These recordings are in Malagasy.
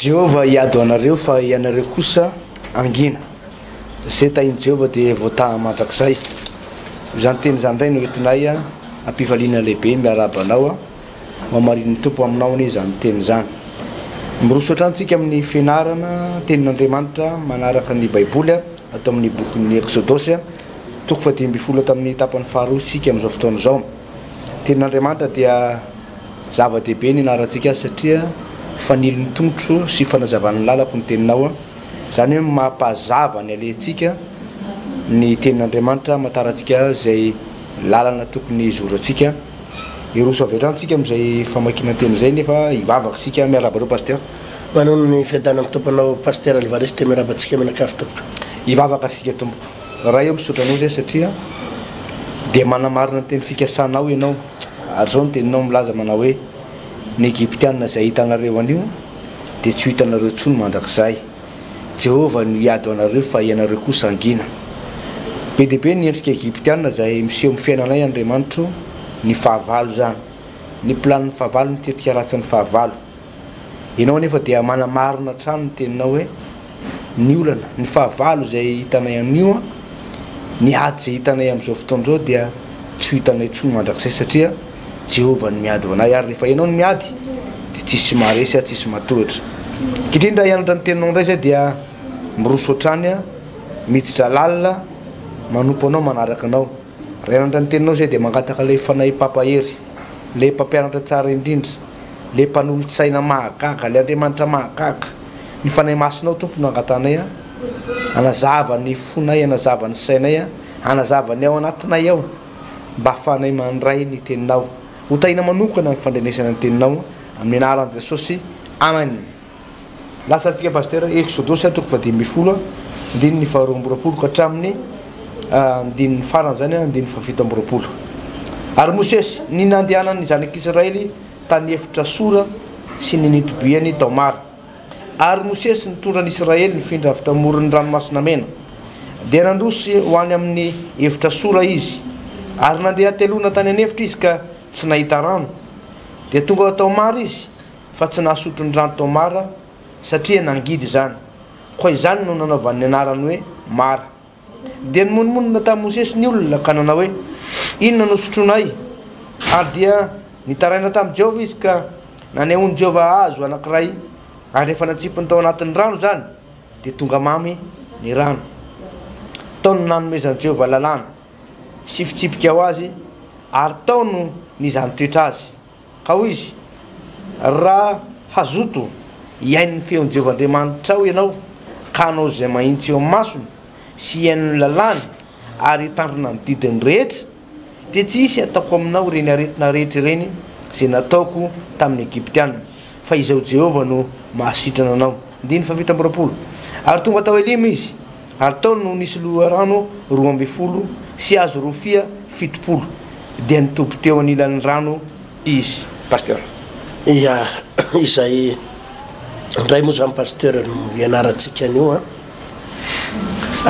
Jehovah hiado anareo fa ianareo kosa hangina. Izay tahin'i Jehovah dia voataha mandrakizay. Izany teny izany indray no entinay hampifaliana lehibe. Miarahaba anao. Hohamarinin'ny Tompo aminao anie izany teny izany. Miroso hatrany isika amin'ny fianarana Tenin'Andriamanitra manaraka ny Baiboly ato amin'ny bokin'ny Eksodosy. Toko fahadimy ambin'ny folo hatramin'ny tapany faharoa isika amin'izao fotoana izao. Tenin'Andriamanitra dia zava-dehibe ny anarantsika azy satria fanilin'ny tongotro sy fanazavan'ny lalako ny teninao. Izany hoe mampazava ny alehantsika ny tenin'Andriamanitra, hamantaran tsika izay lalana tokony hizorantsika. Hiroso avy hatrany tsika amin'izay famakiana ny teny izay nefa hivavaka isika. Miarahaba anao Pasteur. Manoana ny fiadanan'ny Tompo anao Pasteur Alvarez dia miarahaba antsika mianakavy tompoko. Hivavaka isika tompoko. Ray ô misaotra anao re satria dia manamarina ny teny fikasanao ianao ary izao ny teninao milaza manao hoe ny Egyptiana izay hitanareo anio dia tsy ho hitanareo intsony mandrakizay. Jehovah no hiady ho anareo fa ianareo kosa hangina. Be dia be ny endrika Egyptiana izay miseho amin'ny fiainanay Andriamanitro ny fahavalo izany. Ny planin'ny fahavalo ny tetika ratsin'ny fahavalo. Ianao anefa dia manamarina hatrany ny teninao hoe, Ny olana, ny fahavalo izay hitanay anio, ny ady izay hitanay amin'izao fotoana izao dia tsy ho hitanay intsony mandrakizay satria Jehovah no miady ho anay ary rehefa ianao no miady dia tsisy maharesy ary tsisy matohitra. Ankehitriny raha hianatra ny teninao indray izay dia miroso hatrany aho, miditra lalina, manompo anao, manaraka anao. Raha hianatra ny teninao izay dia mangataka ilay Fanahy Mpampahery, ilay Mpampianatra tsara indrindra. le mpanolotsaina mahagaga le Andriamanitra mahagaga ny fanahy masinao Tompo no angatanay a anazava ny fonay anazava ny sainay a anazava ny ao anatinay ao mba afahanay mandray ny teninao ho tahina manokana ny fandrenesana ny teninao amin'ny anaran'i Jesosy Amen. Lasa antsika Pasitera Exodus a, toko fahadimy ambin'ny folo a, andininy faharoa amby roapolo ka hatramin'ny andininy farany izany a, andininy fahafito amby roapolo. Ary Mosesy, ny nandehanan'ny zanak'Israely tany efitra Sora sy ny nitobiany tao Mara. Ary Mosesy nitondra an'Israely nifindra avy tamoron'ny Ranomasina Mena. Dia nandroso ho any amin'ny efitra Sora izy. Ary nandeha hateloana tany an'efitra izy ka tsy nahita rano. Dia tonga tao Mara izy. fa tsy nahasotro ny rano tao Mara satria nangidy izany. Koa izany no nanaovany ny anarany hoe Mara. Dia nimonomonona tamin'i Mosesy ny olona ka nanao hoe, Inona no sotroinay? Ary dia nitaraina tamin'i Jehovah izy ka nanehoan'i Jehovah hazo anankiray, ary rehefa natsipiny tao anatin'ny rano izany, dia tonga mamy ny rano. Tao no nanomezan'i Jehovah lalàna sy fitsipika ho azy, ary tao no nizantoetra azy. Ka hoy izy, Raha hazoto hihaino ny feon'i Jehovah Andriamanitrao ianao, ka hanao izay mahitsy eo amin'ny masony, sy hihaino ny lalàny, ary hitandrina ny didiny rehetra, dia tsy hisy hataoko aminao ireny aretina rehetra ireny izay nataoko tamin'ny Egyptiana, fa izaho Jehovah no mahasitrana anao. Andininy fahavita amby roapolo. Ary tonga tao Elima izy. Ary tao no nisy loharano roa ambin'ny folo sy hazo rofia fitopolo, dia nitoby teo anilan'ny rano izy. Pasteur. Ia, izay indray moa izany Pasteur no ianarantsika an'io an!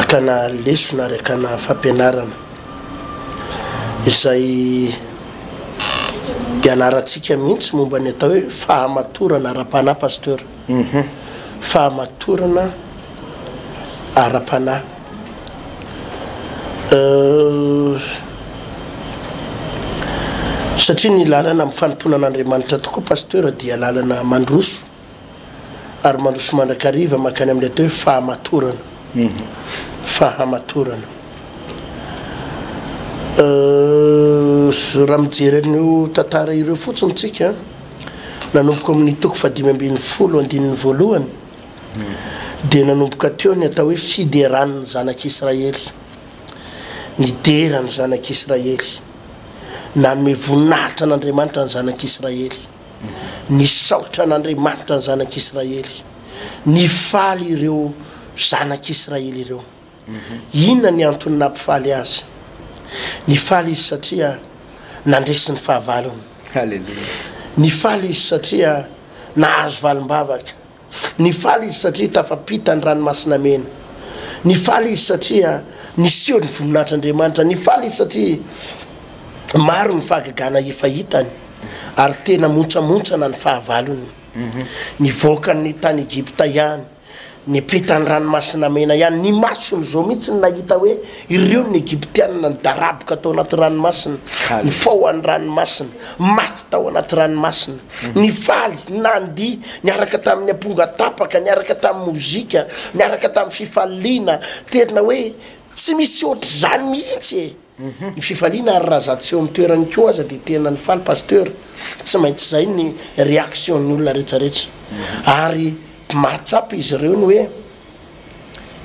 Akana lesona ary akana fampianarana izay ianarantsika mihitsy momba ny atao hoe fahamatorana ara-panahy Pasteur. Uhum. Fahamatorana ara-panahy. Euh. Satria ny lalana amin'ny fanompoana an'Andriamanitra tokoa Pasteur dia lalana mandroso ary mandroso mandrakariva mankany amin'ilay atao hoe fahamatorana. Fahamatorana. Euh, raha mijery an'io tantara ireo fotsiny tsika. Nanomboka amin'ny toko fahadimy ambin'ny folo andininy voalohany dia nanomboka teo ny atao hoe fideran'ny zanak'Israely. Nidera ny zanak'Israely. Nanome voninahitra an'Andriamanitra ny zanak'Israely. Nisaotra an'Andriamanitra ny zanak'Israely. Nifaly ireo zanak'Israely ireo. Inona ny antony nampifaly azy? Nifaly izy satria nandresy ny fahavalony. Haleloia. Nifaly izy satria nahazo valim-bavaka. Nifaly izy satria tafapita ny Ranomasina Mena. Nifaly izy satria niseho ny voninahitr'Andriamanitra. Nifaly izy satria maro ny fahagagana efa hitany, ary tena montsamontsana ny fahavalony. Nivoaka ny tany Egypta ihany. Ny mpitan'ny Ranomasina Mena ihany, ny masony izao mihitsy no nahita hoe ireo ny Egyptianina nidaraboka tao anaty ranomasina, nifaoha any ranomasina, maty tao anaty ranomasina, nifaly, nandihy, niaraka tamin'ny amponga tapaka, niaraka tamin'ny mozika, niaraka tamin'ny fifaliana, tena hoe tsy misy ohatr'izany mihitsy e! Ny fifaliana ary raha za tsy eo am toerany ko aza de tena ny faly pasteur tsy maintsy zay ny reaction ny olona rehetra rehetra ary mahatsapa izy ireo ny hoe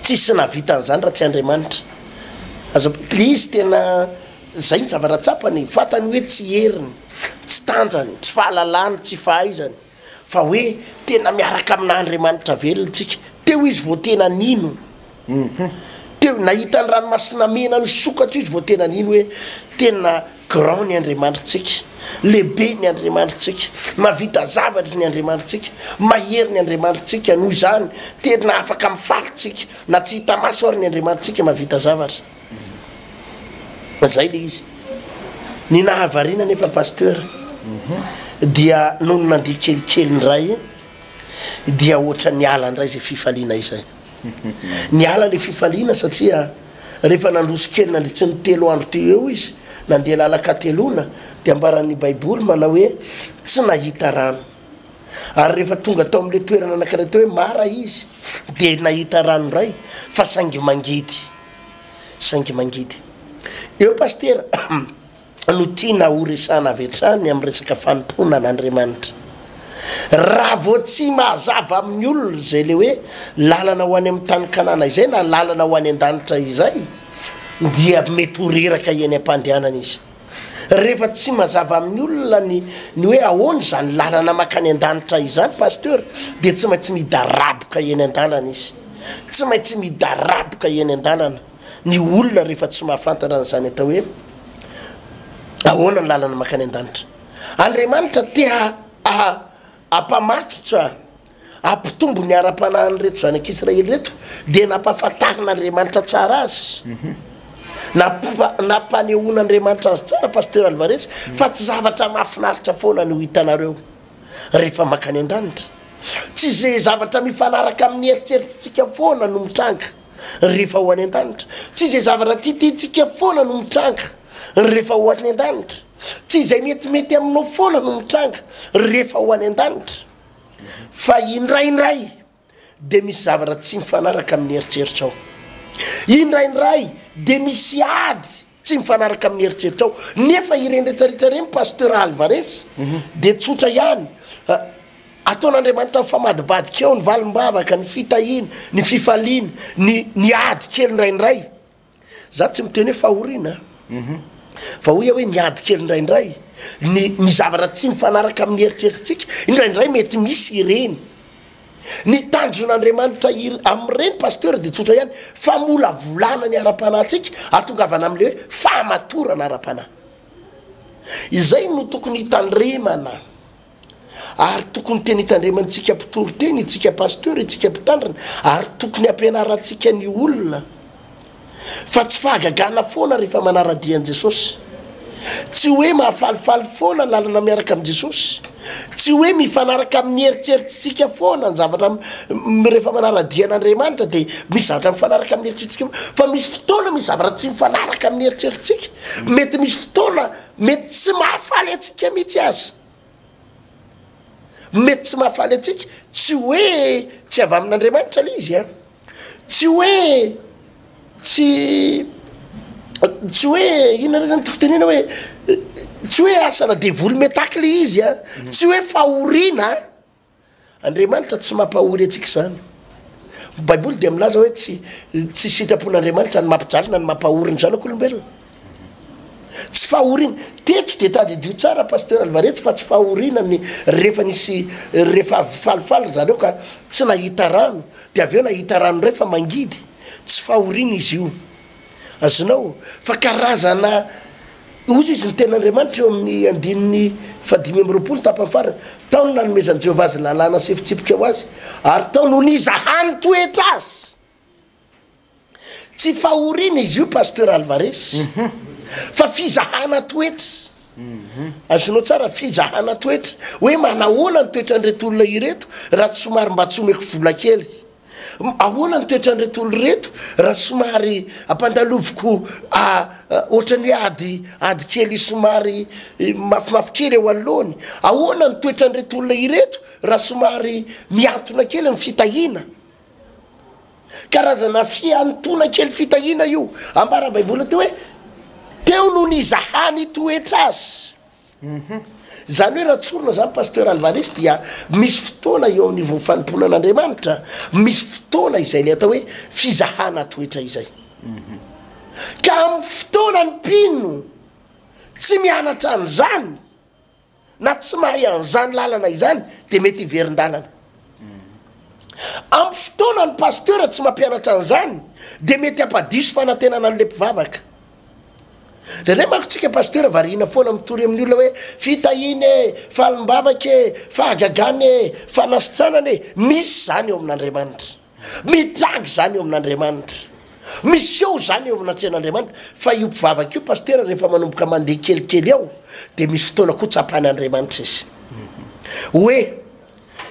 tsisy nahavita an'izany raha tsy Andriamanitra aza le izy tena zay ny zavatra tsapany e, fatany hoe tsy heriny, tsy tanjany, tsy fahalalany, tsy fahaizany. fa hoe tena miaraka aminà Andriamanitra velona isika. Teo izy vao tena nino. Teo, nahita ny ranomasina mena nisokatra izy vao tena nino hoe tena grand ny Andriamanitrtsika, lehibe ny Andriamanitrtsika, mahavita zavatra ny Andriamanitrtsika, mahery ny Andriamanitrtsika, noho izany tena afaka mifaly isika, na tsy hita maso ary ny Andriamanitrtsika mahavita zavatra. Fa zay le izy. Ny nahavariana nefa pasteur dia nony nandeha kelikely indray dia ohatra niala indray izay fifaliana izay. Niala le fifaliana satria rehefa nandroso kely nandritry ny telo andro teo eo izy nandeha lalan-kateloana dia ambaran'ny baiboly manao hoe tsy nahita rano. Ary rehefa tonga tao amin'ilay toerana anankiray teo hoe Mara izy dia nahita rano indray fa saingy mangidy. saingy mangidy. Eo Pasitera no tiana ho resahana avy hatrany amin'ny resaka fanompoana an'Andriamanitra. Raha vao tsy mahazava amin'ny olona izay ilay hoe lalana ho any amin'ny tany Kanana izay na lalana ho any an-danitra izay dia mety ho reraka eny am-pandehanana izy. Rehefa tsy mazava amin'ny olona ny ny hoe ahoana izany lalana makany an-danitra izany Pasteur dia tsy maintsy midaraboka eny an-dalana izy. Tsy maintsy midaraboka eny an-dalana ny olona rehefa tsy mahafantatra an'izany atao hoe ahoana ny lalana makany an-danitra. Andriamanitra te ha Hampamatotra, hampitombo ny ara-panahin'ireto zanak'Israely ireto, dia nampahafantarin'Andriamanitra tsara azy, nampanehoan'Andriamanitra azy tsara, Pasteur Alvarez, fa tsy zavatra mahafinaritra foana no hitanareo rehefa makany an-danitra. Tsy izay zavatra mifanaraka amin'ny eritreritritsika foana no mitranga rehefa ho any an-danitra. Tsy izay zavatra titintsika foana no mitranga rehefa ho any an-danitra. Tsy izay metimety aminao foana no mitranga rehefa ho any an-danitra, fa indraindray dia misy zavatra tsy mifanaraka amin'ny eritreritrao. Indraindray dia misy ady tsy mifanaraka amin'ny eritreritrao. Nefa ireny retsaretsra ireny, Pasteur Alvarez, mhm. dia tsotra ihany. Ah, ataon'Andriamanitra mifamadibadika eo ny valim-bavaka, ny fitahiana, ny fifaliana, ny, ny ady kely indraindray. Za tsy miteny hoe fahoriana an! Fa hoy aho hoe miady kely indraindray. Ny ny zavatra tsy mifanaraka amin'ny eritreritsika, indraindray mety misy ireny. Ny tanjon'Andriamanitra ir- amin'ireny Pasteur dia tsotra ihany, famolavolana ny ara-panahintsika hahatongavana amin'ilay hoe fahamatorana ara-panahy. Izay no tokony hitandremana. Ary tokony tena hitandremana tsika mpitory teny itsika pasteur itsika mpitandrina ary tokony ampianarantsika ny olona fa tsy fahagagana foana rehefa manaradia an'i Jesosy tsy hoe mahafalifaly foana lalana miaraka amin'i Jesosy tsy hoe mifanaraka amin'ny heritreritsintsika foana ny zavatra rehefa manaradia an'Andriamanitra dia misy zavatra mifanaraka amin'ny heritreritsintsika fa misy fotoana misy zavatra tsy mifanaraka amin'ny heritreritsintsika mety misy fotoana Mety tsy mahafaly antsika mihitsy aza. Mety tsy mahafaly antsika. Tsy hoe tsy avy amin'Andriamanitra ilay izy an. Tsy hoe tsy tsy hoe inona indray zany tiako tenena hoe tsy hoe asana devoly mitaky ilay izy an. Tsy hoe fahoriana an. Andriamanitra tsy mampahory antsika izany. Ny Baiboly dia milaza hoe tsy tsy sitrapon'Andriamanitra ny mampijaly na ny mampahory ny zanak'olombelona. Tsy fahoriana. Teto dia tadidio tsara pasteur Alvaretsy fa tsy fahoriana ny rehefa nisy rehefa avy falifaly ry zareo ka tsy nahita rano dia avy eo nahita rano indray fa mangidy. Tsy fahoriana izy io. Azonao? Fa karazana ozy izy ny tenin'Andriamanitra eo amin'ny andininy fahadimy amby roapolo tapany farany, tao no nanomezan'i Jehovah azy lalàna sy fitsipika ho azy, ary tao no nizahany toetra azy. Tsy fahoriana izy io Pasteur Alvarez, fa fizahana toetra. Azonao tsara, fizahana toetra. Hoe manahoana ny toetran'ireto olona ireto raha tsy somary mba tsy omeko vola kely. Ahoana ny toetran'ireto olona ireto raha somary ampandaloviko ohatran'ny hoe ady ady kely somary mafimafy kely eo anoloany? Ahoana ny toetran'ireto olona ireto raha somary mihantona kely ny fitahiana? Karazana fihantoana kely fitahiana io. Ambara Baiboly atao hoe, Teo no nizahany toetra azy. Humm zany hoe raha tsorina zany Pasteur Alvarez dia misy fotoana eo amin'ny vao fanompoana an'Andriamanitra misy fotoana izay le atao hoe fizahana toetra izay ka amin'ny fotoana ny mpino tsy mianatra an'izany na tsy mahay an'izany lalana izany de mety hiverin-dalana amin'ny fotoana ny Pasteur tsy mampianatra an'izany de mety hampadiso fanantenana an'le mpivavaka Indraindray manko tsika pasitera variana foana mitory amin'ny olona hoe fitahiana e, falim-bavaka e, fahagagana e, fanasitranana e. Misy izany eo amin'Andriamanitra. Mitranga izany eo amin'Andriamanitra. Miseho izany eo amin'Atrehan'Andriamanitra. Fa io mpivavaka io pasitera rehefa manomboka mandeha kelikely ao dia misy fotoana koa tsapan'Andriamanitra izy. Hoe.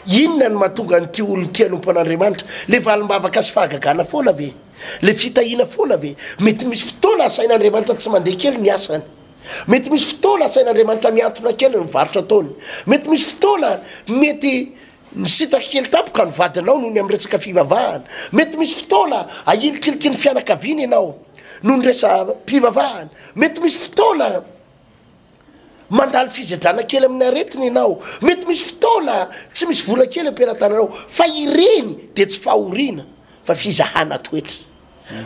Inona no mahatonga an'ity olona ity hanompo an'Andriamanitra? Ilay valim-bavaka sy fahagagana foana ve? Ilay fitahiana foana ve? Mety misy fotoana asain'Andriamanitra tsy mandeha kely ny asany. Mety misy fotoana asain'Andriamanitra mihantona kely ny varotra ataony. Mety misy fotoana mety misintaka kely tampoka ny vadinao noho ny amin'ny resaka fivavahana. Mety misy fotoana ahilikiliky ny fianakaviana ianao noho ny resa-pivavahana. Mety misy fotoana. Mandalo fizajana kely amin'ny aretina ianao. Mety misy fotoana tsy misy vola kely am-pelatananao, fa ireny dia tsy fahoriana fa fizahana toetra.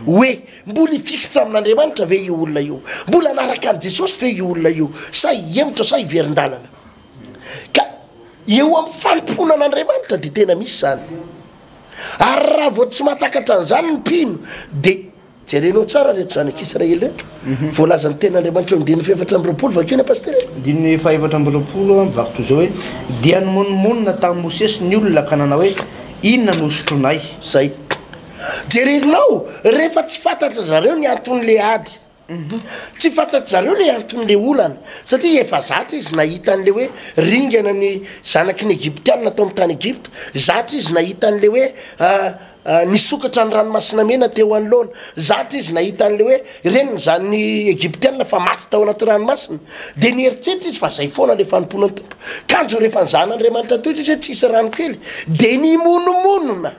Hoe mbola hifikitra amin'Andriamanitra ve io olona io? Mbola hanaraka an'i Jesosy ve io olona io sa hihemotra sa hiverin-dalana? Ka eo amin'ny fanompoana an'Andriamanitra dia tena misy izany. Ary raha vao tsy mahatakatra an'izany ny mpino dia. Jerenao tsara reto zanaka Israely reto voalazan'ny tenin'Andriamanitra eo amin'ny diny fahefatra amby roapolo, vakio ny Pasitera e. Diny fahefatra amby roapolo a, mivakiko izao hoe, Dia nimonomonona tamin'i Mosesy ny olona ka nanao hoe, Inona no hosotroinay? Zay. Jerenao, rehefa tsy fantatry zareo ny anton'le ady, tsy fantatry zareo le anton'le olana, satria efa zatra izy nahita an'le hoe ringana ny zanaky ny Egyptiana tao amin'ny tany Egypta, zatra izy nahita an'le hoe Nisokatra ny Ranomasina Mena teo anoloana. Zatra izy nahita an'ilay hoe reniny izany ny Egyptiana fa maty tao anaty ranomasina. Dia nieritreritra izy fa izay foana ilay fanompoana ny Tompo. Kanjo rehefa nizahana Andriamanitra toy izao izy hoe tsisy rano kely, dia nimonomonona.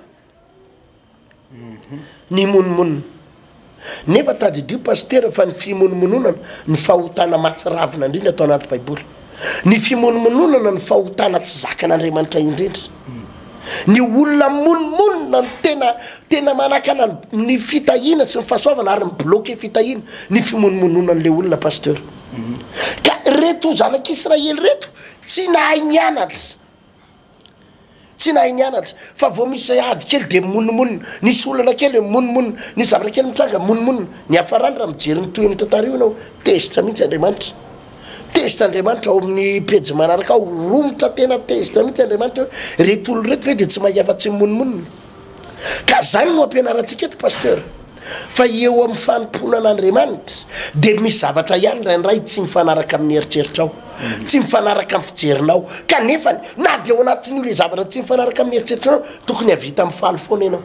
Nimonomonona. Nefa tadidio Pasitera fa ny fimonomononana no fahotana mahatsiravina indrindra ato anaty baiboly. Ny fimonomononana no fahotana tsy zakan'Andriamanitra indrindra. Ny olona mimonomonona no tena tena manakana ny fitahiana sy ny fahasoavana ary mi-bloquer fitahiana ny fimonomononan'ilay olona Pasteur. Ka reto zanak'Israely reto tsy nahay nianatra. Tsy nahay nianatra, fa vao misy izay ady kely dia mimonomonona, nisy olana kely dia mimonomonona, nisy zavatra kely mitranga mimonomonona. Niafarany raha mijery ny tohin'io tantara io ianao, tezitra mihitsy Andriamanitra. Tezitra Andriamanitra ao amin'ny pejy manaraka ao, romotra tena tezitra mihitsy Andriamanitra hoe, ireto olona ireto ve dia tsy mahay afa-tsy mimonomonona? Ka zany no ampianarantsika eto Pasteur fa eo amin'ny fanompoana an'Andriamanitra dia misy zavatra ihany indraindray tsy mifanaraka amin'ny eritreritrao, tsy mifanaraka amin'ny fijerinao kanefany na dia ao anatin'io le zavatra tsy mifanaraka amin'ny eritreritranao tokony havita mifaly foana ianao,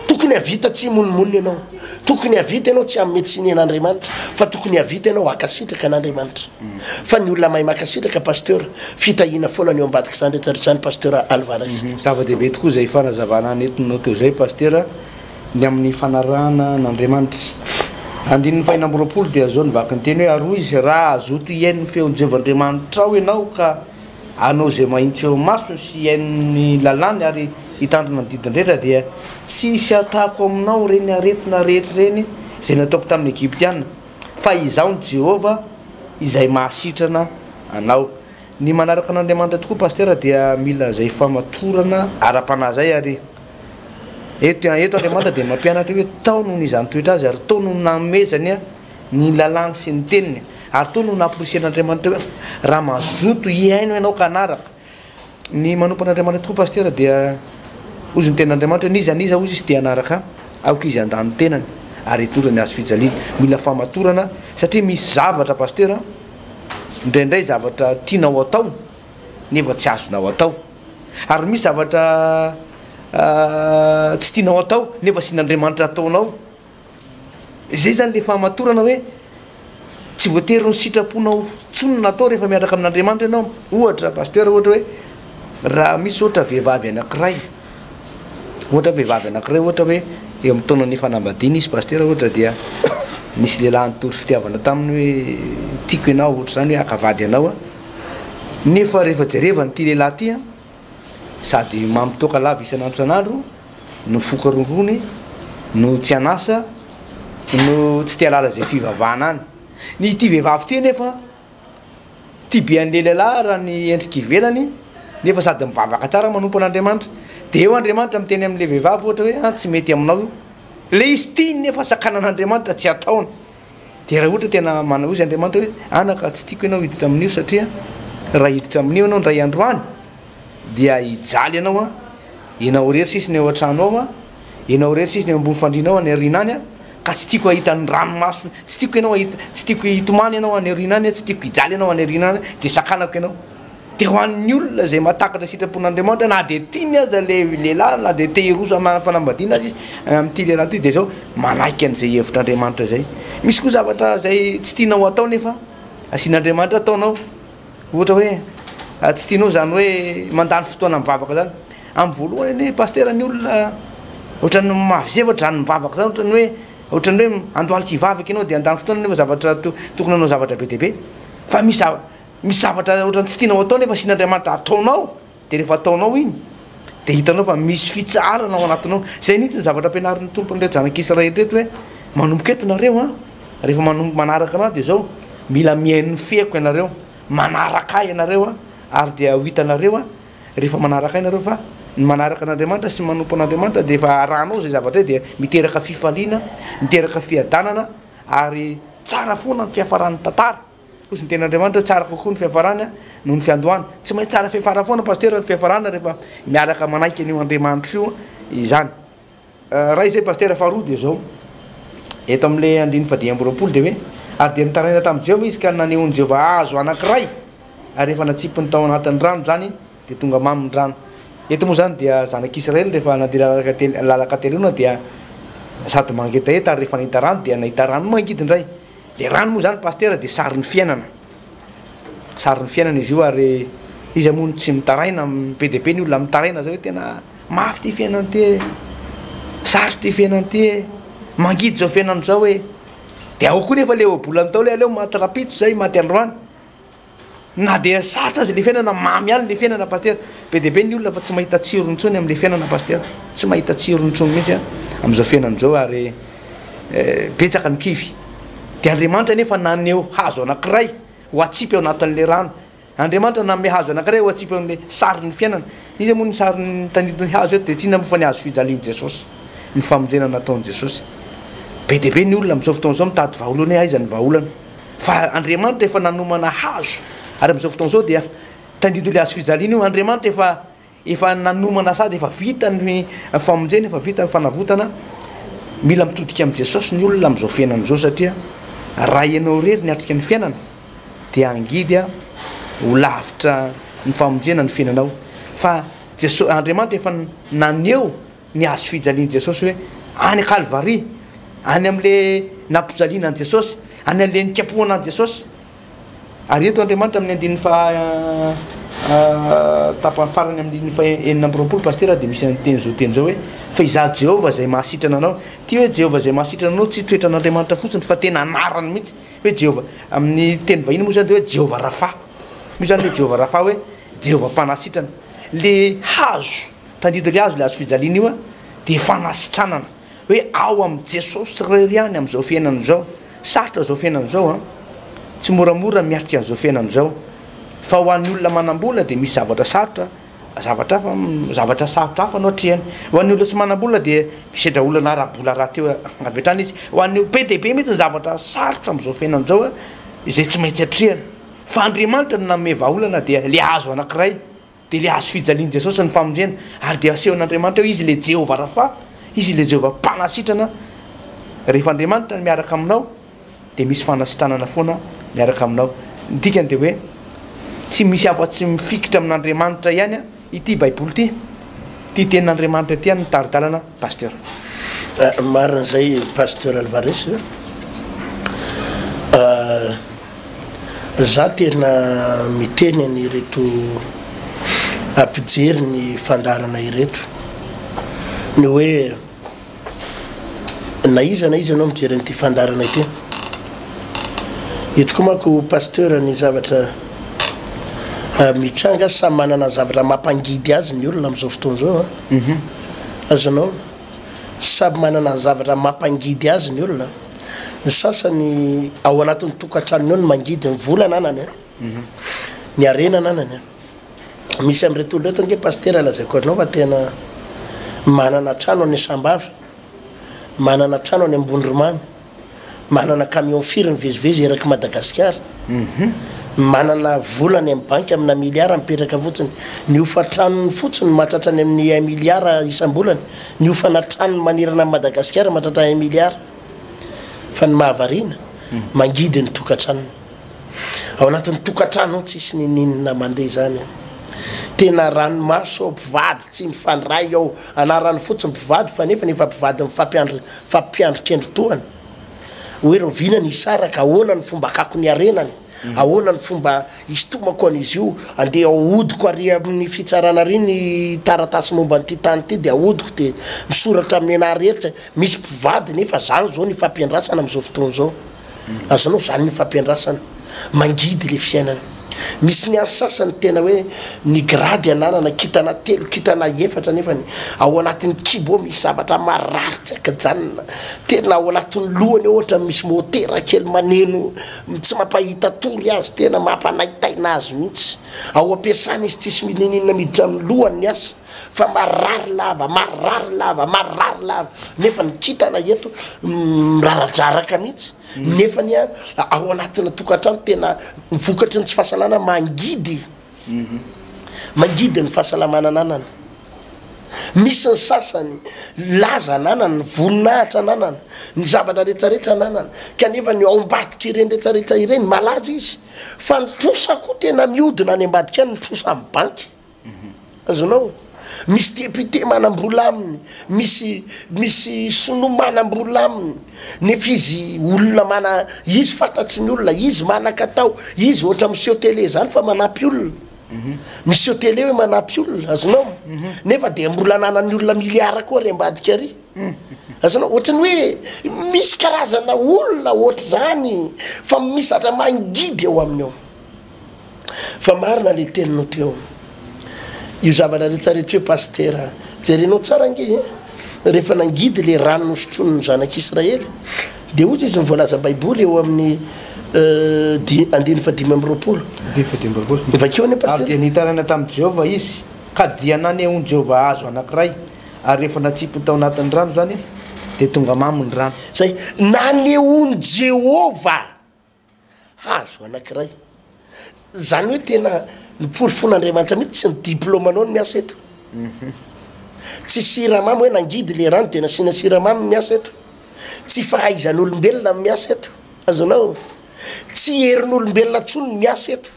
tokony havita tsy himonomonona ianao. Tokony havita ianao tsy hanome tsiny an'Andriamanitra fa tokony havita ianao hankasitraka an'Andriamanitra. Fa ny olona mahay mankasitraka Pasteur, fitahiana foana ny eo ambadik'izany rehetra rehetra izany Pasteur Alvarez. Zava-dehibe tokoa izay fanazavana nentinao teo izay Pastera ny amin'ny fanarahana an'Andriamanitra. Andininy fahenina amby roapolo dia izao ny vakiny teny hoe ary hoy izy raha hazoto hihaino ny feon'i Jehovah Andriamanitrao ianao ka Hanao izay mahitsy eo imasony sy hihaino ny lalàny ary hitandrina ny didiny rehetra, dia tsy hisy hatako aminao ireny aretina rehetra ireny izay nataoko tamin'ny Egyptiana, fa Izaho no Jehovah izay mahasitrana anao. Ny manaraka an'Andriamanitra tokoa Pasitera dia mila izay famatorana ara-panahy izay ary eto Andriamanitra dia mampianatra hoe tao noho ny izany toetra azy ary tao no nanomezany ny lalàny sy ny teniny, ary toa no nampirisihan'Andriamanitra hoe, Raha mazoto hihaino ianao ka hanaraka. Ny manompo an'Andriamanitra tokoa Pasitera dia hozy ny tenin'Andriamanitra hoe, N'iza n'iza hozy izy te hanaraka ahy, aoka izy handà ny tenany ary hitondra ny hazo fijaliany. Mila fahamatorana satria misy zavatra Pasitera an, indraindray zavatra tianao atao nefa tsy azonao atao, ary misy zavatra tsy tianao atao nefa asian'Andriamanitra ataonao. Izay izany ilay fahamatorana hoe tsy voatery ny sitraponao intsony no atao rehefa miaraka amin'Andriamanitra ianao. Ohatra, pasteur ohatra hoe raha misy ohatra vehivavy anankiray, ohatra vehivavy anankiray ohatra hoe eo amin'ny taonan'ny fanambadiana izy pasteur ohatra dia nisy lehilahy nitory fitiavana taminy hoe tiako ianao ohatra izany hoe haka vady anao nefa rehefa jerevany ity lehilahy ity a sady mamitoaka lava isan'andro isan'andro no foka rongony no tsy an'asa no tsy te halala izay fivavahana any. Ny ity vehivavy ity nefa tia be an'ilay lehilahy raha ny endrika ivelany nefa sady mivavaka tsara manompo an'Andriamanitra. Dia eo Andriamanitra miteny amin'ilay vehivavy ohatra hoe an tsy mety aminao io. Ilay izy tiany nefa sakanan'Andriamanitra tsy ataony. Dia raha ohatra tena manao izy Andriamanitra hoe, anaka tsy tiako ianao hiditra amin'io satria raha hiditra amin'io ianao indray andro any dia hijaly ianao an, ianao irery sisa ny ao an-trano ao an, ianao irery sisa ny eo ambony fandriana ao any aoriana any an, ka tsy tiako hahita ny ranomaso, tsy tiako ianao hahita, tsy tiako hitomany ianao any aoriana any an, tsy tiako hijaly ianao any aoriana any an, dia sakanako ianao. Dia ho an'ny olona izay mahatakatra sitrapon'Andriamanitra, na dia tiany aza ilay lehilahy, na dia te hiroso hanana fanambadiana aza izy, amin'ity lehilahy ity, dia izao, manaiky an'izay hevitr'Andriamanitra izay. Misy koa zavatra izay tsy tianao hatao nefa asian'Andriamanitra ataonao. Ohatra hoe, tsy tianao izany hoe mandany fotoana mivavaka izany. Amin'ny voalohany anie Pasitera, ny olona ohatran'ny mahazefatra izany mivavaka izany, ohatran'ny hoe, ohatran'ny hoe andohalika hivavaka ianao dia handany fotoana nefa zavatra, tokony hanao zavatra be dia be. Fa misy zava-. Misy zavatra ohatran'ny tsy tianao atao nefa asian'Andriamanitra ataonao, dia rehefa ataonao iny dia hitanao fa misy fitsaharana ao anatinao. Izay mihitsy ny zavatra ampianarin'ny Tompo an'ireo zanak'Israely ireto hoe, manomboka eto nareo an, rehefa manomboka manaraka anah dia zao, mila mihaino ny feoko ianareo, manaraka ahy ianareo an, ary dia ho hitanareo an, rehefa manaraka ahy nareo fa ny manaraka an'Andriamanitra sy ny manompo an'Andriamanitra dia efa arahanao izay zavatra izay dia miteraka fifaliana, miteraka fiadanana ary tsara foana ny fiafaran'ny tantara. Kosa ny tenin'Andriamanitra tsara kokoa ny fiafarana noho ny fiandohana. Tsy maintsy tsara fiafarana foana Pasteur ny fiafarana rehefa miaraka manaiky an'io Andriamanitra io izany. Iray izay Pasteur, faharoa dia izao, eto amin'ilay andininy fahadimy amby roapolo dia hoe, ary dia nitaraina tamin'i Jehovah izy ka nanehoan'i Jehovah hazo anankiray ary rehefa natsipiny tao anatin'ny rano izany dia tonga mamy ny rano. Eto moa izany dia zanak'Israely rehefa nandeha lalaka telo, lalaka telo lalana dia sady mangetaheta ary rehefa nahita rano dia nahita rano mangidy indray. Le rano moa zany Pasitera dia sarin'ny fiainana, sarin'ny fiainana izy io ary iza moa no tsy mitaraina, be dia be ny olona mitaraina zao hoe tena mafy ity fiainana ity e, sarotra ity fiainana ity e, mangidy izao fiainana izao e, dia ao koa nefa le ohabolana tao le aleo maty rapitso zay maty androany. Na dia sarotra aza le fiainana, mamy ihany le fiainana Pasitera. Be dia be ny olona fa tsy mahita tsirony intsony amin'le fiainana Pasitera. Tsy mahita tsirony intsony mihitsy an, amin'izao fiainana izao ary eh, betsaka ny kivy. Dia Andriamanitra anefa naneho hazo anankiray ho atsipy ao anatin'le rano. Andriamanitra nanome hazo anankiray ho atsipy ao amin'le sarin'ny fiainana. Iza moa ny sarin'ny tanitin'ny hazo eto, dia tsy inona moa fa ny hazo fijalian'i Jesosy, ny famonjena nataon'i Jesosy. Be dia be ny olona amin'izao fotoana izao mitady vahaolana hoe aiza ny vahaolana. Fa Andriamanitra efa nanomana hazo, ary amin'izao fotoana izao dia tandidon'ilay hazo fijaliana io. Andriamanitra efa efa nanomana sady efa vita ny famonjena, efa vita ny fanavotana. Mila mitodika amin'i Jesosy ny olona amin'izao fiainana izao satria raha ianao irery ny atrika ny fiainana dia angidy ho lavitra ny famonjena ny fiainanao. Fa Jesosy, Andriamanitra efa naneho ny hazo fijalian'i Jesosy hoe any Kalvary, any amin'le nampijaliana an'i Jesosy, any an'le nikapohana an'i Jesosy. Ary eto Andriamanitra amin'ny andininy fa tapany farany amin'ny andininy fa enina amby roapolo pasitera dia misy an'teny zao teny zao hoe fa izaho Jehovah izay mahasitrana anao. Ity hoe Jehovah izay mahasitrana anao tsy toetran'Andriamanitra fotsiny fa tena anarany mihitsy hoe Jehovah. Amin'ny teny vahiny moa izany dia hoe Jehovah Rapha. Io izany hoe Jehovah Rapha hoe Jehovah mpanasitrana. Le hazo Tadidio le azo le hazofijaliana io a de fanasitranana hoe ao am Jesosy rery ihany am zao fiainana zao sarotra zao fiainana zao a tsy moramora miatrika an zao fiainana zao fa ho an'ny olona manambola de misy zavatra sarotra zavatra hafa zavatra sarotra hafa no atrehany ho an'ny olona tsy manambola de misedra olana arabola rahateo avy hatrany izy ho an'ny be de be mihitsy ny zavatra sarotra am zao fiainana zao a izay tsy maintsy atrehany fa Andriamanitra no nanome vahaolana dia le azo anakiray Dia ilay hazo fijalian'i Jesosy ny famonjena, ary dia asehon'Andriamanitra eo Izy ilay Jehovah Rapha, Izy ilay Jehovah Mpanasitrana. Rehefa Andriamanitra no miaraka aminao, dia misy fanasitranana foana miaraka aminao. Ny dikany dia hoe tsy misy afa-tsy mifikitra amin'Andriamanitra ihany ity Baiboly ity, ity Tenin'Andriamanitra ity, ny tari-dalana Pasteur. Marina zay Pasteur Alvarez a. Za tena miteny an ireto mpijery ny fandaharana ireto ny hoe na iza na iza anao mijery an'ity fandaharana ity eto koa manko Pasteur ny zavatra mitranga samy manana zavatra mampangidy azy ny olona am'zao fotoana zao a. Azonao. Samy manana ny zavatra mampangidy azy ny olona. Ny sasany ao anatin'ny tokantranony ao no mangidy, ny vola ananany a, ny harena ananany a. Misy amin'ireto olona ireto ange Pasitera lazaiko anao fa tena manana trano any Sambava, manana trano any Ambondromamy. Manana camion firy mivezivezy erak'i Madagasikara? Manana vola any amin'ny banky amina milliard mipetraka fotsiny. Ny hofan-tranony fotsiny mahatratra any amin'ny un milliard isam-bolana. Ny hofana tranony manerana an'i Madagasikara mahatratra un milliard. Fa ny mahavariana, mangidy ny tokantranony. Ao anatin'ny tokantrano ao tsisy ninoninona mandeha izany. Tena ranomaso ao, mpivady tsy mifandray ao. Anarany fotsiny mpivady fa nefa ny efa mpivady mifampiandry mifampiandry kendry tohana. Hoe rahoviana ny hisaraka, ahoana ny fomba hakako ny harenany, ahoana ny fomba hisintomako an'izy io, andeha ahodiko ary amin'ny fitsarana ary ny taratasy momba an'ity tany ity dia ahodiko dia misoratra amin'ny anah rehetra, misy mpivady nefa zany zao ny ifampiandrasana amin'izao fotoana izao. Azonao zany ny fampiandrasana mangidy le fiainana. Misy ny any sasany tena hoe ny grady ananana kitana telo kitana efatra nefany ao anatiny kibo ao misy zavatra marary tsy akajanona. Tena ao anatiny lohany ao ohatra misy motera kely maneno tsy mampahita tory azy tena mampanaitaina azy mihitsy. Ao ampiasana izy tsisy mininina miditra amin'ny lohany ny asa. fa marary lava, marary lava, marary lava, nefa ny kintana eto miraradraraka mihitsy, mm. nefa ny ao anatina tokantrano tena vokatry ny tsy fahasalana mangidy, mhm. mangidy ny fahasalamana ananana. Misy ny sasany laza ananana, ny voninahitra ananana, ny zavatra rehetrarehetra ananana, kanefa ny ao ambadika ireny rehetrarehetra ireny malaza izy, fa ny trosa koa tena miodina any ambadika any ny trosa amin'ny banky. Azonao? Misy député manam-bola aminy, misy misy sinoa manam-bola aminy, nefa izy olona mana, izy fantatry ny olona, izy manan-katao, izy ohatra miseho télé zany fa manampy olona, miseho télé hoe manampy olona, azonao? Nefa dia mbola ananan'ny olona milliards koa ary ambadika ary, azonao? Ohatran'ny hoe misy karazana olona ohatr'izany fa misy zatra mangidy ao aminy ao. Fa marina le teninao teo. Io zavatra rehetra rehetra io pasitera, jerenao tsara ange e, rehefa nangidy le rano nosotroin'ny zanak'Israely, dia hoy izy ny voalazan'ny baiboly eo amin'ny eh, andiny fahadimy amby roapolo. Andiny fahadimy amby roapolo. Vakio anie pasitera. Ary dia nitaraina tamin'i Jehovah izy, ka dia nanehoan'i Jehovah hazo anankiray, ary rehefa natsipiny tao anatin'ny rano izany izy, dia tonga mamy ny rano. Izay, nanehoan'i Jehovah Hazo anankiray. Izany hoe tena noporofoin'Andriamanitra mihitsy tsy ny diplaomanao no miasa eto. Mhm. Tsy siramamy hoe nangidy le rano dia nasiana siramamy miasa eto. Tsy fahaizan'olombelona miasa eto. Azonao? Tsy herin'olombelona tsony miasa eto.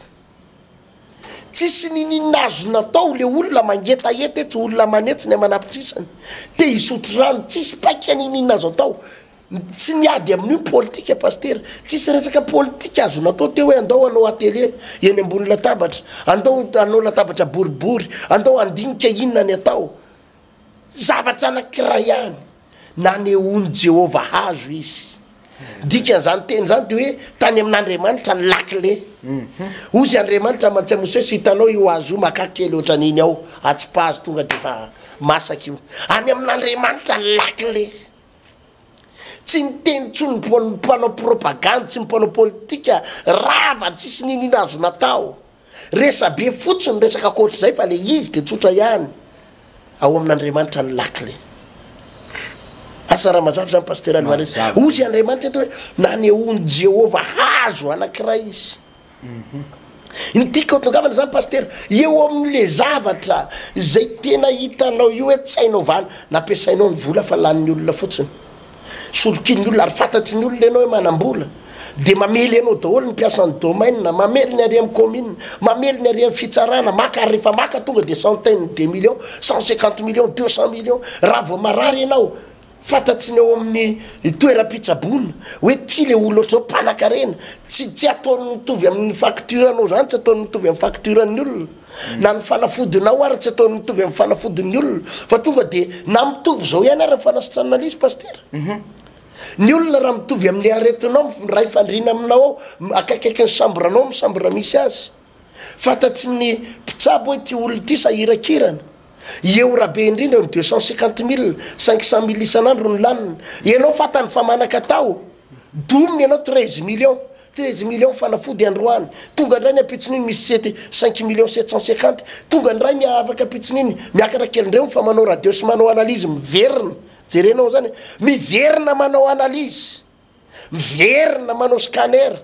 Tsisy nininina azo natao le olona mangetaheta etsy, olona manetsy ny aman'ampitsisany. Te hisotro rano, tsisy paika nininina azo atao. Tsy miady amin'io politika Pasitera, tsisy resaka politika azo natao teo hoe andao hanao atelier eny ambony latabatra, andao hanao latabatra boribory, andao handinika inona ny atao. Zavatra anankiray ihany, nanehoan'i Jehovah hazo izy. Dikan'izany teny izany dia hoe tany amin'Andriamanitra ny lakile. Hoy izy Andriamanitra aman-tsy an'i Mosesy, hitanao io hazo io, makà kely ohatran'iny ao, atsipazo tonga dia efa masaka io. Any amin'Andriamanitra ny lakile. Tsy niteny intsony ny mpanao propagandy sy ny mpanao politika rava tsisy niniana azo natao. Resabe fotsiny ny resaka ankoatr'izay fa ilay izy dia tsotra ihany, ao amin'Andriamanitra ny lakle. Asa raha mazava izany Pasitera Alvarez. Hoy i Andriamanitra eto hoe nanehoan'i Jehovah hazo anankiray izy. Ny tiako hatongavana zany Pasitera, eo amin'le zavatra izay tena hitanao io hoe tsy hay naovana, nampiasainao ny vola fa lanin'ny olona fotsiny, solokian'ny olona, ary fantatry ny olona ianao hoe manam-bola, dia mamely anao daholo ny mpiasan'ny domaine, mamely ny ary amin'ny commune, mamely ny ary amin'ny fitsarana, maka ary rehefa maka tonga dia centaine de millions, cent cinquante millions, deux cent millions, raha vao marary ianao, Fantatry ny ao amin'ny toeram-pitsaboana hoe ty le olona ohatr'izao mpanakarena, tsy tsy ataony mitovy amin'ny facture anao zany tsy ataony mitovy amin'ny facture an'ny olona, na ny fanafodinao ary tsy ataony mitovy amin'ny fanafodin'ny olona fa tonga de na mitovy zao ihany ary ny fanasitranana an'izy pasitera, ny olona raha mitovy amin'ny aretinao miray fandriana aminao ao akaikaikin'ny sambranao amin'ny sambra misy azy. Fantatry ny mpitsabo hoe ity olona ity sahiran-kirana. Eo raha be indrindra ny deux cent cinquante mille, cinq cent mille isan'andro no laniny. Ianao fantany fa manan-katao, domina ianao treize millions, treize millions fanafody androany, tonga indray ny ampitson'iny misy sety cinq millions sept cent cinquante, tonga indray ny afaka ampitson'iny miakatra kely indray fa manao radio sy manao analyse miverina. Jerenao izany e! Miverina manao analyse, miverina manao scanner.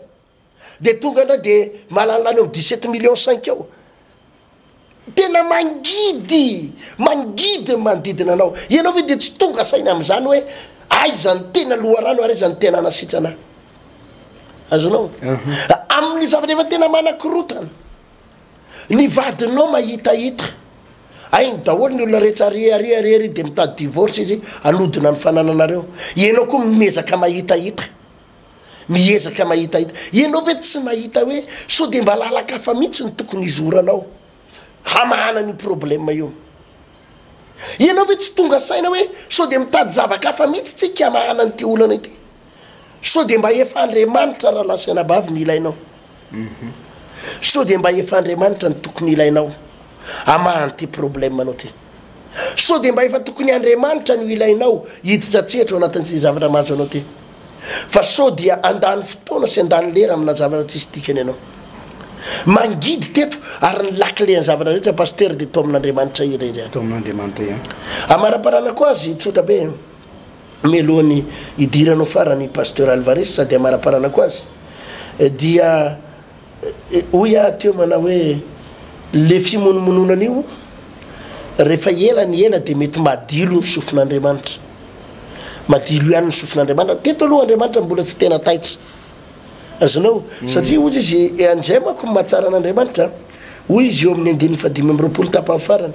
Dia tonga indray dia mahalala any amin'ny dix sept millions cinq eo. Tena mangidy, mangidy ny manodidina anao. Ianao ve dia tsy tonga saina amin'izany hoe aiza ny tena loharano ary aiza ny tena anasitrana? Azonao? Amin'ny zavatra efa tena manakorotana. Ny vadinao mahitahita. Hainy daholo ny olona rehetra ary ary ary ary dia mitady divorce izy hanodina ny fanananareo. Ianao koa miezaka mahitahita. Miezaka mahitahita. Ianao ve tsy mahita hoe sao dia mba lalan-kafa mihitsy no tokony hizoranao hamahana an'io problème io? Ianao ve tsy tonga saina hoe sao dia mitady zava-kafa mihitsy tsika hamahana an'ity olana ity? Sao dia mba efa Andriamanitra Ralahasy Anabavy no ilainao? Sao dia mba efa Andriamanitra no tokony ilainao hamaha an'ity problème anao ty? Sao dia mba efa tokony Andriamanitra no ilainao hiditra an-tsehatra ao anatin'ity zavatra mahazo anao ty? Fa sao dia handany fotoana sy handany lera amina zavatra tsisy dikany ianao? Mangidy teto ary ny lakile an'ny zavatra rehetra Pasteur dia tao amin'Andriamanitra irery ihany. Tao amin'Andriamanitra ihany. Amaraparanako azy, tsotra be. mialohan'ny hidirany ho farany i Pasteur Alvarez sady hamaraparanako azy dia hoy aho teo manao hoe le fimonomononana io rehefa ela ny ela dia mety madilo ny sofin'Andriamanitra madilo ihany ny sofin'Andriamanitra teto aloha Andriamanitra mbola tsy tena taitra azonao mm. satria hozy izy eh, anzay manko mahatsara an'Andriamanitra hoy izy eo amin'ny andininy fadimy amby roapolo tapany farany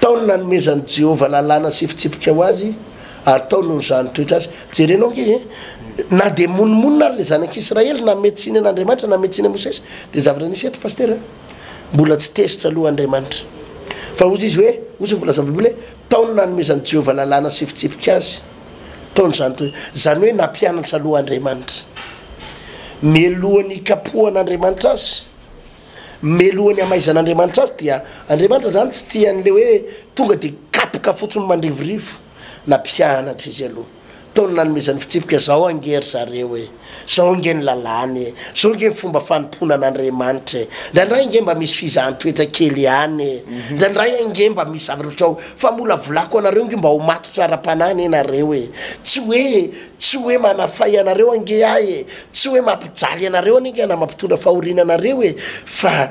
Tao no nanomezan'i Jehovah lalàna sy fitsipika ho azy, ary tao no nizaha ny toetra azy. Jerenao ange e! Na dia monomonona ary ilay zanak'Israely, nanome tsiny an'Andriamanitra, nanome tsiny an'i Mosesy, dia zavatra nisy eto Pasitera a! Mbola tsy tezitra aloha Andriamanitra. Fa hozy izy hoe, hozy ny voalazan'ny Baiboly hoe, Tao no nanomezan'i Jehovah lalàna sy fitsipika azy, tao no nizaha ny toetra. Izany hoe nampianatra aloha Andriamanitra, mialohan'ny hikapohan'Andriamanitra azy. melohan'ny hamaizan'Andriamanitra azy dia Andriamanitra izany tsy tia an'ilay hoe tonga dia kapoka fotsiny mandrivorivo na mpianatra izy aloha tao ny nanomezan'ny fitsipika zao ange ry zareo e zao ange ny lalàny e zao ange ny fomba fanompoana an'Andriamanitra e ndraindray ange mba misy fizahan-toetra kely ihany e ndraindray ange mba misy zavatra ohatrao famolavolako anareo ange mba ho matotra ara-panahy anie nareo e tsy hoe Tsy hoe manafay anareo ange ahy e! Tsy hoe mampijaly anareo anie ka na mampitondra fahoriana anareo e! Fa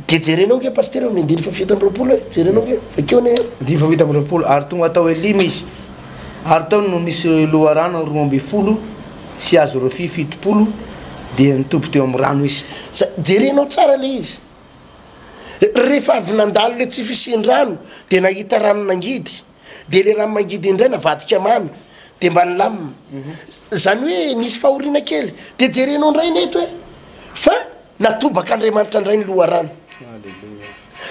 dia jerenao ange Pasitera eo amin'ny andininy fahafito amby roapolo e! Jerenao ange, vakio anie e! Andininy fahafito amby roapolo, Ary tonga tao Elima izy, ary tao no nisy loharano roa ambin'ny folo sy azy ireo fy fitopolo, dia nitoby teo amin'ny rano izy. Za- Jerenao tsara ilay izy. Rehefa avy nandalo ilay tsy fisian-drano, dia nahita rano nangidy. Dia ilay rano mangidy indray navadika mamy, dia mba nilamina. Izany hoe nisy fahoriana kely. Dia jerenao indray ny eto hoe fa natobaka Andriamanitra indray ny loharano.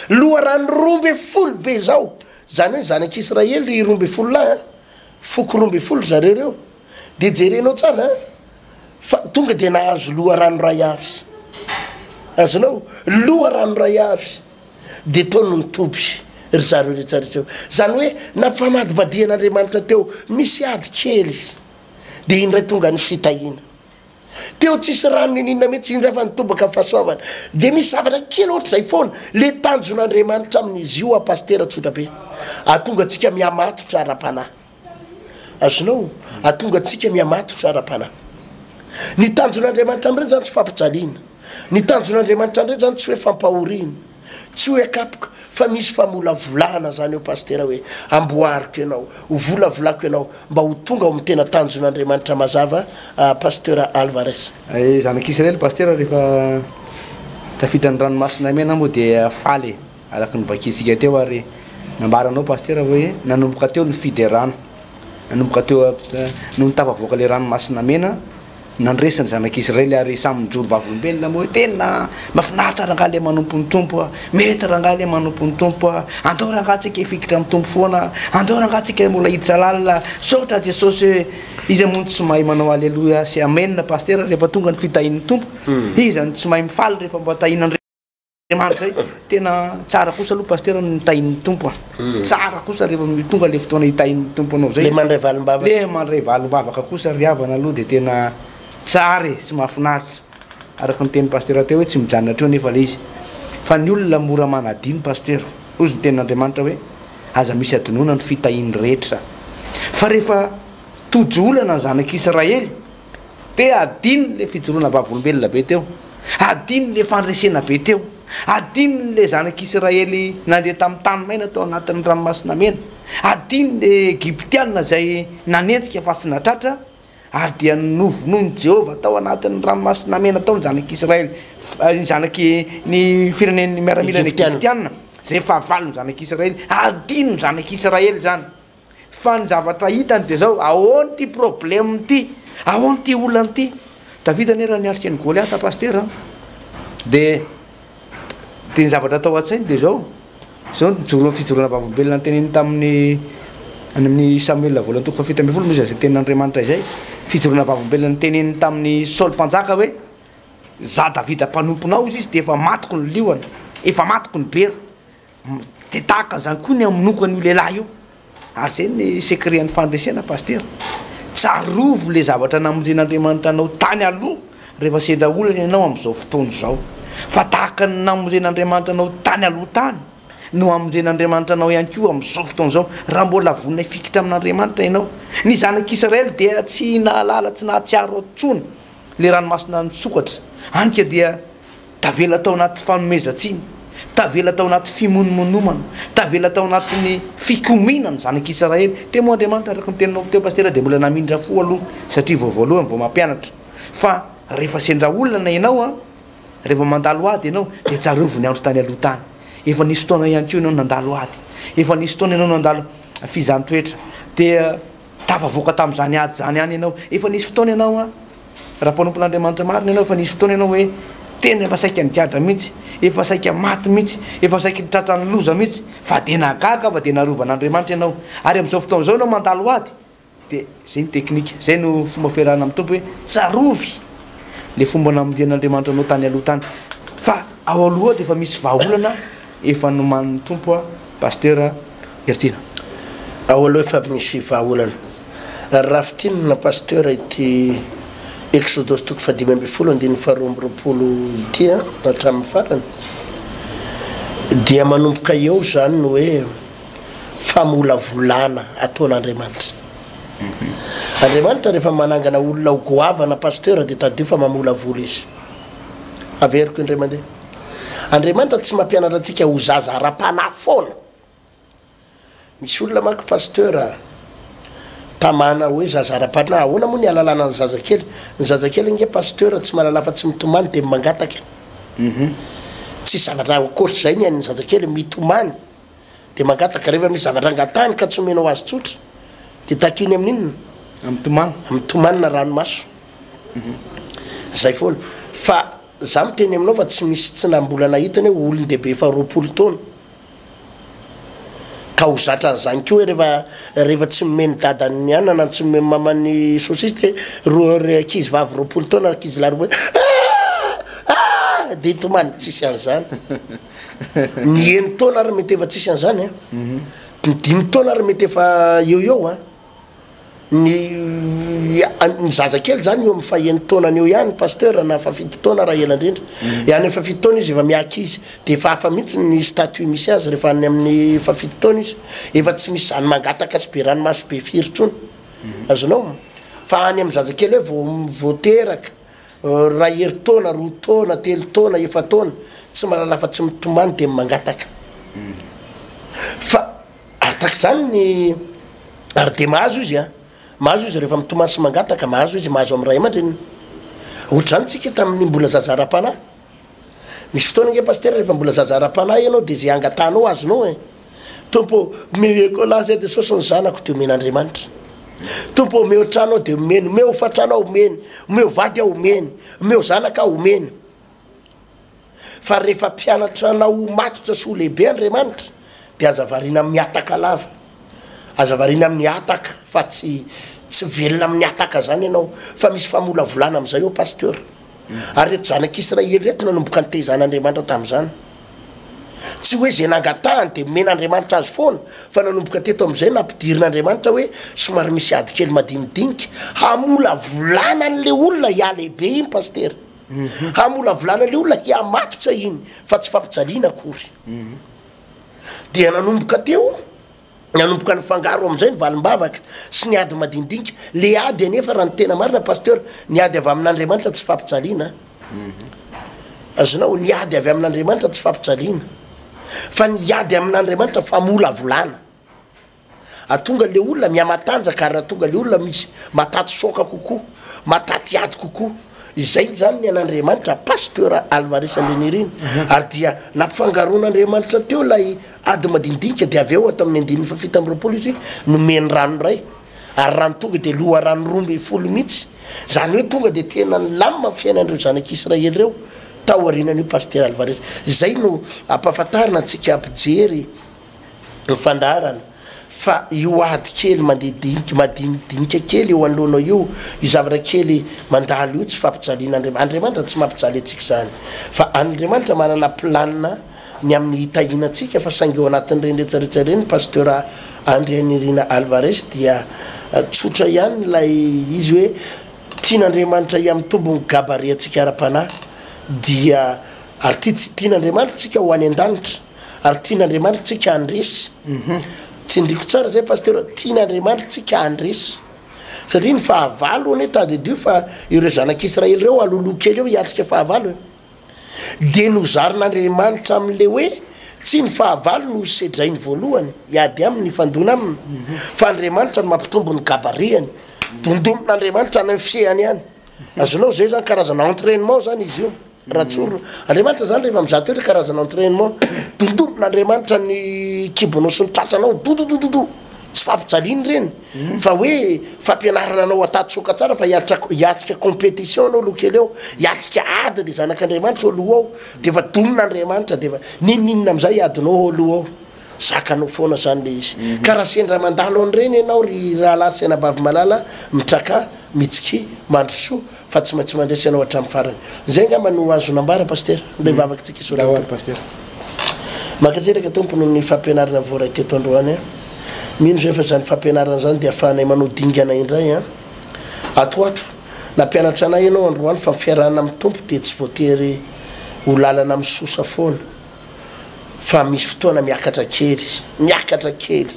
Loharano roa ambin'ny folo be izao, izany hoe zanak'Israely roa ambin'ny folo lahy, foko roa ambin'ny folo ry zareo ireo. de jerenao tsara a, fa tonga de nahazo loharano ray avy, azonao? Loharano ray avy de tao no nitoby ry zareo rehetra rehetra eo, zany hoe nampifamadibadihan'Andriamanitra teo misy ady kely, de iny ndray tonga ny fitahiana, teo tsisy rano nininona mihitsy, iny ndray fa nitobaka ny fahasoavana, de misy zavatra kely ohatr'izay foana, le tanjon'Andriamanitra amin'izy io aho pasitera tsotra be, ahatonga antsika mihamatotra ara-panahy. Azonao ahatonga antsika mihamatotra ara-panahy. Ny tanjon'Andriamanitra amin'ireny izany tsy fampijaliana. Ny tanjon'Andriamanitra amin'ireny izany tsy hoe fampahoriana. Tsy hoe akapoka fa misy famolavolana izany eo Pasitera hoe amboariko ianao, ho volavolako ianao mba ho tonga ao amin'ny tena tanjon'Andriamanitra mazava Pasitera Alvarez. Zanak'Israely Pasitera rehefa tafita ny ranomasina mena moa dia faly e! Araka ny vakintsika teo ary nambaranao Pasitera hoe nanomboka teo ny fiderana, nanomboka teo nony tafavoaka ilay ranomasina mena nandresy ny zanak'Israely ary samy nijoro vavolombelona moa hoe tena mafinaritra rangaha ilay manompo ny Tompo a, mety rangaha ilay manompo ny Tompo a, andao rangaha tsika hifikitra amin'ny Tompo foana, andao rangaha tsika mbola hiditra lalina, misaotra Jesosy hoe iza moa no tsy mahay manao aleloia sy amen Pasitera rehefa tonga ny fitahian'ny Tompo, iza no tsy mahay mifaly rehefa mba tahiana ny Andriamanitra zay. Tena tsara kosa aloha pasteur ny tahin'ny Tompo a. Hmm. Tsara kosa rehefa tonga le fotoana hitahin'ny Tompo anao zay. Le mandray valimbavaka. Le mandray valimbavaka kosa ry havana aloha de tena tsara e sy mahafinaritra. Araka ny teny pasteur teo hoe tsy mijanona hatreo nefa le izy. Fa ny olona mora manadino pasteur. Hoy ny tenin'Andriamanitra hoe aza misy adinoana ny fitahian'ny rehetra. Fa rehefa tojo olana ny zanak'Israely Dia adino ilay fijoroana vavolombelona be teo. Adino ilay fandresena be teo. Adino ilay zanak'Isiraely nandeha tamin'ny tany maina tao anatin'ny Ranomasina Mena. Adino ilay Egyptiana izay nanenjika fa tsy natratra, ary dia novonoin'i Jehovah tao anatin'ny Ranomasina Mena tao ny zanak'Isiraely, ny zanak'i, ny firenen'ny miaramilana Egyptiana, izay fahavalon'ny zanak'Isiraely. Adino ny zanak'Isiraely izany. Fa ny zavatra hitany dia izao, Ahoana ity problème ity? Ahoana ity olana ity? Davida anie raha niatrika an'i Goliata Pasitera an, dia dia ny zavatra tao an-tsainy dia izao, izao ny fijoroan'ny fijoroana vavolombelona noteneniny tamin'ny any amin'ny Samoela voalohany toko fahafito ambin'ny folo moa izay izay tenin'Andriamanitra izay, fijoroana vavolombelona noteneniny tamin'i Saoly Mpanjaka hoe, Izaho Davida mpanomponao, hoy izy, dia efa matiko ny liona, efa matiko ny bera. Dia tahaka an'izany koa ny hamonoako an'io lehilahy io. Ary izay ny secret-n'ny fandresena Pasitera. Tsarovy ilay zavatra namoren'Andriamanitra anao tany aloha rehefa sendra olana ianao amin'izao fotoana izao. Fa tahaka ny namoren'Andriamanitra anao tany aloha tany no hamoren'Andriamanitra anao ihany koa amin'izao fotoana izao raha mbola vonona hifikitra amin'Andriamanitra ianao. Ny zanak'Israely dia tsy nahalala, tsy nahatsiaro intsony ilay ranomasina nisokatra. Hany ka dia Tavela tao anaty fanomezan-tsiny, tavela tao anaty fimonomonomana, tavela tao anatin'ny fikomiana ny zanak' Isiraely. Temo Andriamanitra araka ny teninao teo Pasitera dia mbola namindra fo aloha satria vao voalohany vao mampianatra fa rehefa sendra olana ianao a, rehefa mandalo ady ianao dia tsarovy ny andro tany aloha tany. Efa nisy fotoana ihany koa ianao nandalo ady, efa nisy fotoana ianao nandalo fizan-toetra dia. Tafavoaka tamin'izany ady izany ihany ianao. Efa nisy fotoana ianao an, raha mpanompon'Andriamanitra marina ianao, efa nisy fotoana ianao hoe tena efa saika nigadra mihitsy, efa saika maty mihitsy, efa saika ny tratran'ny loza mihitsy, fa dia nahagaga fa dia narovan'Andriamanitra ianao. Ary amin'izao fotoana izao ianao mandalo ady, dia izay no teknika, izay no fomba fiarahana amin'ny Tompo hoe tsarovy ilay fomba namonjen'Andriamanitra anao tany aloha tany. Fa ao aloha ao dia efa misy vahaolana efa nomanin'ny Tompo an, Pasitera. Heriteny. Ao aloha efa misy vahaolana. Rafitinina Pasteur ity Exodosy toko fahadimy ambin'ny folo andininy faharoa amby roapolo ity an, hatramin'ny farany dia manomboka eo izany ny hoe famolavolana ataon'Andriamanitra. Andriamanitra rehefa manangana olona ho goavana Pasteur dia tadidio fa mamolavola izy. Averiko indray mandeha. Andriamanitra tsy mampianatra antsika ho zaza ara-panahy foana. Misy olona manko pasteur tamana hoe zaza ara-panahy. Ahoana moa ny alalana ny zazakely? Ny zazakely ange pasteur tsy mahalala afa tsy mitomany dia mangataka. Mhm. Tsisy zavatra ankoatr'izay ny an'ny zazakely, mitomany dia mangataka. Rehefa misy zavatra angatahany ka tsy omenao azy tsotra dia takiny amin'inona? Amin'ny tomany. Amin'ny tomany na ranomaso. Mhm. Zay foana. Fa Za miteny aminao fa tsy misy tsy na mbola nahita ny hoe olon-dehibe efa roapolo taona ka ho zatra an'izany koa hoe rehefa rehefa tsy nomen'ny dadany ny anana tsy nomen'ny mamany ny saucisse dia roa ry ankizy vavy roapolo taona ankizy lahy roapolo ah ah dia tomany tsisy an'izany ny eny taona ary mety efa tsisy an'izany a ny dimy taona ary mety efa eo eo a Ny ny zaza kely zany eo amin'ny fahen'ny taonany eo ihany pasteur na fafito taona raha ela indrindra mm. any fafito taona izy efa miaky izy de efa hafa mihitsy ny statut misy azy rehefa any amin'ny fafito taona izy efa tsy misy zany mangataka sy be ranomaso be firy tsony mm. azonao fa any amin'ny zaza kely hoe vao vao teraka euh, raha hery taona roa taona telo taona efa taona tsy malala fa tsy mitomany de mangataka mm. fa Ary tahaka izany ny Ary dia mahazo izy an! Mahazo izy rehefa mitomany sy mangataka, mahazo izy mahazo amin'ny ray aman-dreniny. Ohatr'izany isika tamin'ny mbola zaza ara-panahy. Misy fotoana ange Pasitera rehefa mbola zaza ara-panahy ianao dia izay angatahanao azonao e! Tompo ô, omeko an'ahy izay Jesosy ny zanako dia omen'Andriamanitra. Tompo ô, omeo trano aho dia omeny, omeo hofan-trano aho omeny, omeo vady aho omeny, omeo zanaka aho omeny. Fa rehefa mpianatra anao ho matotra sy ho lehibe Andriamanitra dia aza variana amin'ny hataka lava, aza variana amin'ny hataka fa tsy tsy velona amin'ny hataka zany ianao fa misy famolavolana amin'izay ô Pasteur. Ary reto zanak'Israely reto nanomboka nitaiza an'Andriamanitra tamin'izany. Tsy hoe izay nangatahany dia nomen'Andriamanitra azy foana fa nanomboka teto amin'izay nampidirin'Andriamanitra hoe somary misy ady kely madinidinika hamolavolana an'ilay olona hialehibe iny Pasitera. hamolavolana ilay olona hihamatotra iny fa tsy fampijaliana akory dia nanomboka teo nanomboka ny fangaro amin'izay ny valimbavaka sy ny ady madinidinika le ady anefa raha ny tena marina pasteur ny ady avy amin'andriamanitra tsy fampijaliana azonao ny ady avy amin'andriamanitra tsy fampijaliana fa ny ady amin'andriamanitra famolavolana Atonga le olona mihamatanjaka ary atonga le olona misy mataty soaka kokoa, mataty ady kokoa. Izay zany ny an'Andriamanitra Pasteur Alvarez Andrianirina. Ary dia nampifangaroan'Andriamanitra teo ilay ady madinidinika dia avy eo ato amin'ny andininy fahafito amby roapolo izy nomeny rano iray. Ary rano tonga dia loharano roa ambin'ny folo mihitsy. Zany hoe tonga dia tena nilamina ny fiainan'ireo zanak'Israely ireo tao aorianan'io Pasteur Alvarez. Izay no ampahafantarina antsika mpijery ny fandaharana fa io ady kely mandeha dinika madinidinika kely eo anoloanao io, io zavatra kely mandalo io tsy fampijalian'Andriamanitra. Andriamanitra tsy mampijaly antsika izany fa Andriamanitra manana plan ny amin'ny hitahiana antsika fa saingy eo anatin'ireny retsaretsaka ireny ny Pasteur Andrianirina Alvarez dia tsotra ihany ilay izy hoe tian'Andriamanitra hiamitombo ny gabareantsika ara-panahy dia ary tia tsy tian'Andriamanitra tsika ho any an-danitra. Ary tian' Andriamanitra tsika handresy. Tsindriko tsara zay Pasteur, tian' Andriamanitra tsika handresy. Satria ny fahavalo anie tadidio fa ireo zanak' Israely ireo aloloha kely eo hiatrika fahavalo e. Dia nozarin' Andriamanitra amin' ilay hoe tsy ny fahavalo no hosedrainy voalohany hiady aminy hifandona aminy, fa Andriamanitra no mampitombo ny gabariany. Dondomin' Andriamanitra any amin' ny fihehany any. Azonao izay zany karazana entrainement zany izy io. Ratsorona. Andriamanitra izany rehefa mizaha toetra karazana entrainement. Dondonina Andriamanitra ny kibonao sy ny tratranao. Dododododo. Tsy fampijaliana ireny mm. fa hoe fampianarana anao atatsoka tsara fa hiatrika compétition anao aloha kely eo. Hiatrika ady ny zanak'Andriamanitra eo aloha ao. Dia efa donina Andriamanitra dia efa nininina amin'izay adinao ao aloha ao. Zakanao foana izany le izy. Mm. Ka raha sendra mandalo an'ireny ianao ry rahalahy sy anabavy malala mitraka, mitsiky, mandrosoa. Fa tsy maintsy mandresy ianao hatramin'ny farany. Izay angamba no azonao ambara Pasitera. Ndeha hivavaka isika hisolo ny Tompo. Pasitera. Mankasitraka Tompo noho ny fampianarana voaray teto androany a. Mino izay fa izany fampianarana izany dia afahanay manao dingana indray a. Ato ato. Nampianatra anay ianao androany fa ny fiarahana amin'ny Tompo dia tsy voatery ho lalana misosa foana. fa misy fotoana miakatra kely, miakatra kely.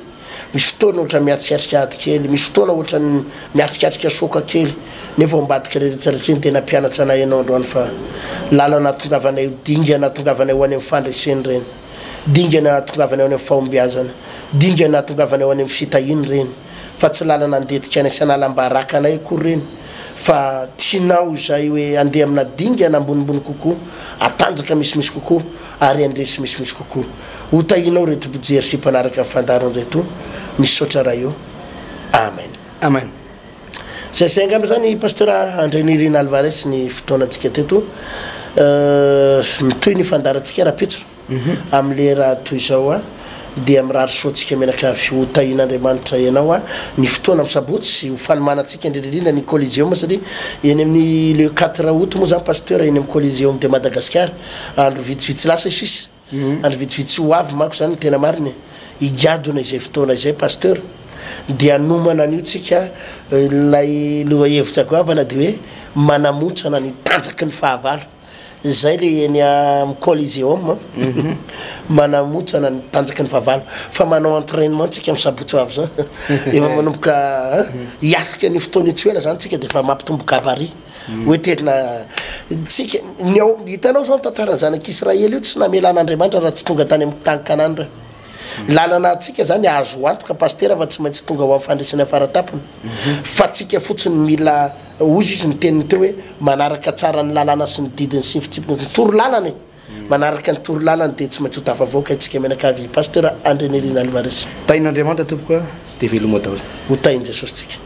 Misy fotoana ohatran'ny miatrikatrika ady kely, misy fotoana ohatran'ny miatrikatrika soka kely. Nefa ao ambadika rehetra rehetra ny tena mpianatra anay ianao androany fa lalana atongavanay ho dingana atongavanay ho any amin'ny fandreseny ireny. Dingana atongavanay ho any amin'ny fahombiazana, dingana atongavanay ho any amin'ny fitahiana ireny fa tsy lalana andetika any sy analam-baraka anay akory ireny. fa tianao izay hoe andeha amina dingana ambonimbony kokoa, atanjaka misimisy kokoa ary andresy misimisy kokoa. Ho tahinao ireto mpijery sy mpanaraka ny fandaharana ireto. Misaotra Ray o. Amen. Amen. Zay zay angamba zany Pasteur André Nirina Alvarez ny fotoanantsika teto. Mitohy ny fandaharantsika rahampitso. Amin'ny lera toy izao dia mirary soa antsika menaka avy. Ho tahian'Andriamanitra ianao ny fotoana amin'ny sabotsy sy ho fanomanantsika indrindra indrindra ny Coliseum satria eny amin'ny le quatre aout moa izany Pasteur eny amin'ny Coliseum de Madagascar. Andro vitsivitsy lasa sisa, andro vitsivitsy ho avy manko izany ny tena marina e. Higadona izay fotoana izay Pasteur dia hanomana an'io tsika ilay lohahevitra goavana dia hoe manamontsana ny tanjaky ny fahavalo. Zay le eny am coliseum manamotsana ny tanjaky ny fahavalo fa manao entrainement tsika am sabotsy ho avy zao efa manomboka hiatrika an'io fotoana io tsy ho ela zany tsika defa mampitombo gabarit hoe tena tsika ny ao hitanao zao ny tantaran'ny zanak'i Israely io tsy namelan'Andriamanitra raha tsy tonga tany am tany Kanana reo lalana antsika zany azo antoka pasitera fa tsy maintsy tonga ho am fandresena faratapony fa tsika fotsiny mila Hozy izy ny teniny teo hoe, manaraka tsara ny lalàna sy ny didiny sy ny fitsipika ny torolalana e! Manaraka ny torolalana dia tsy maintsy ho tafavoaka isika mianakavy Pasteur Andrianirina Alvarez. Tahin' Andriamanitra tompoko a! Dia veloma daholo. Ho tahin'i Jesosy tsika.